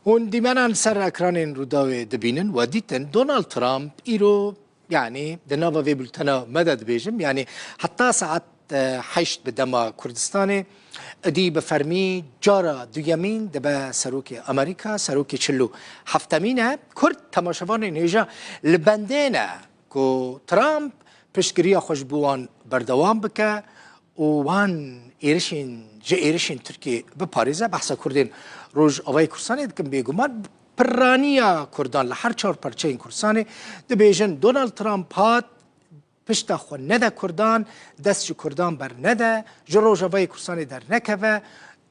Hûn dîmenan ser ekranên Rûdawê dibînin û dîtin Donald Trump îro yanî di nava vê bultena me de dibêjim yanî heta saet heşt bi dema Kurdistanê idî bi fermî cara duyemîn dibe Serokê Amerîka, Serokê çil û heftemîn e. Kurd temaşevanên hêja li bendê ne ku Trump piştgiriya xwe ji bo wan berdewam bike û wan êrişên ji êrişên Tirkiyê biparêze, behsa Kurdên Rojavayê Kurdistanê dikin, bêguman pirraniya Kurdan li her çar parçeyên Kurdistanê, dibêjin Donald Trump hat, pişta xwe nede Kurdan, dest ji Kurdan bernede, ji Rojavayê Kurdistanê dernekeve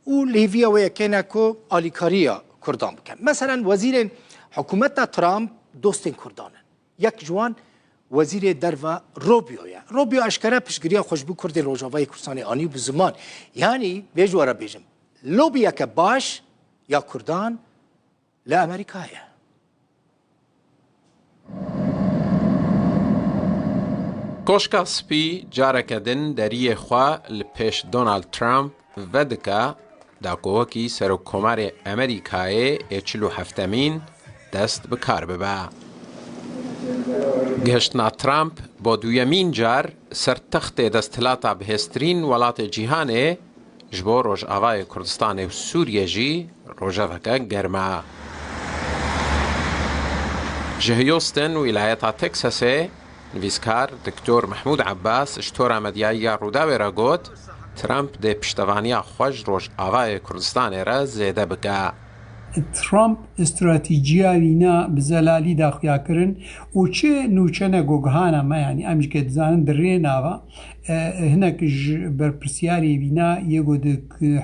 û lêviya wê yekê ne ku alîkariya Kurdan bikin. Meselen wezîrên hikûmeta Trump dostên Kurdan in. Yek ji wan Wezîrê Derve Rubio ye. Rubio eşkere piştgiriya Xweşbû Kurdên Rojavayê Kurdistanê anî bi ziman yanî vê ji we re bêjim, lobiyeke baş ya Kurdan li Amerîka ye. Koşka Spî careke din deriyê xwe li pêş Donald Trump Vedika dakohokî Serokkomarê Amerîkayê yê çil û heftemîn dest bi kar bibe. Gihiştina Trump bo duyemîn car ser textê desthilata bihêztirîn welatê cîhanê ji bo Rojavayê Kurdistanê û Sûriyê jî rojeveke germ e. Ji Houston, wîlayeta Texasê, Nivîskar Doktor Mehmûd Abbas ji tora medyayî ya Rûdawê re got, Trump dê piştevaniya xwe ji Rojavayê Kurdistanê re zêde bike. Trump stratîjiya wî ne bi zelalî daxuyakirin û çi nûçe ne gogihana me yanî em jike dizanin di rê ne va. Hinek ji berpirsyarê wî ne yê got di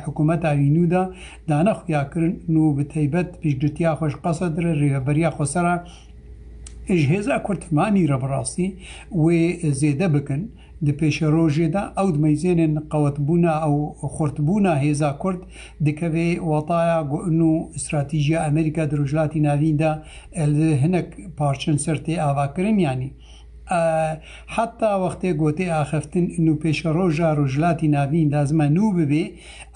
hikumeta wî nû de dane xuyakirin nû bi teybet piştgirtiya xwe ji Qased re rêveberiya xwesera Ji hêza ku tifanî re bi rastî wê zêde bikin, di pêşerojê de ew di meyzênên qewetbûna û xurtbûna hêza Kurd dikeve wataya ku nû stratîjiya Amerîka di Rojhilatî Navîn de li hinek parçen ser tê avakirin yanî heta wextê ku tê axiftin nû pêşeroja Rojhilatî Navîn lazime nû bibê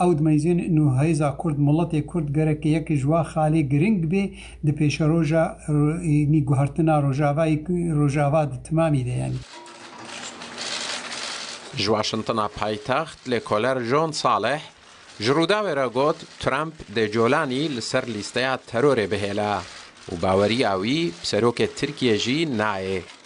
ew di meyzên nû hêza Kurd miletê Kurd gerek yek ji wa xalê giring bê Di pêşeroja nî guhertina rojavayê ku rojava di timamî de ye. Ji Waşintona paytext lêkoler John Saleh ji Rûdawê re got Trump dê Colanî li ser lîsteya terorê bihêle û baweriya wî bi serokê Tirkiyê jî nayê.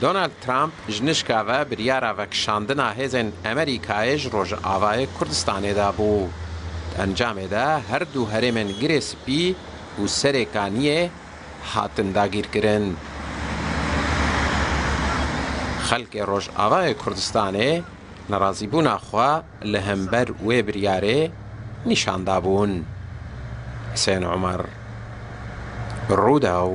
Donald Trump ji nişka ve biryara vekişandina hêzên Amerîkayê ji Rojavayê Kurdistanê da bû. Di encamê de her du herêmên Girê Spî û Serê Kaniyê hatin dagîrkirin. Xelkê Rojavayê Kurdistanê nerazîbûna xwe li hember wê biryarê nîşan dabûn. Husên Omer, Rûdaw.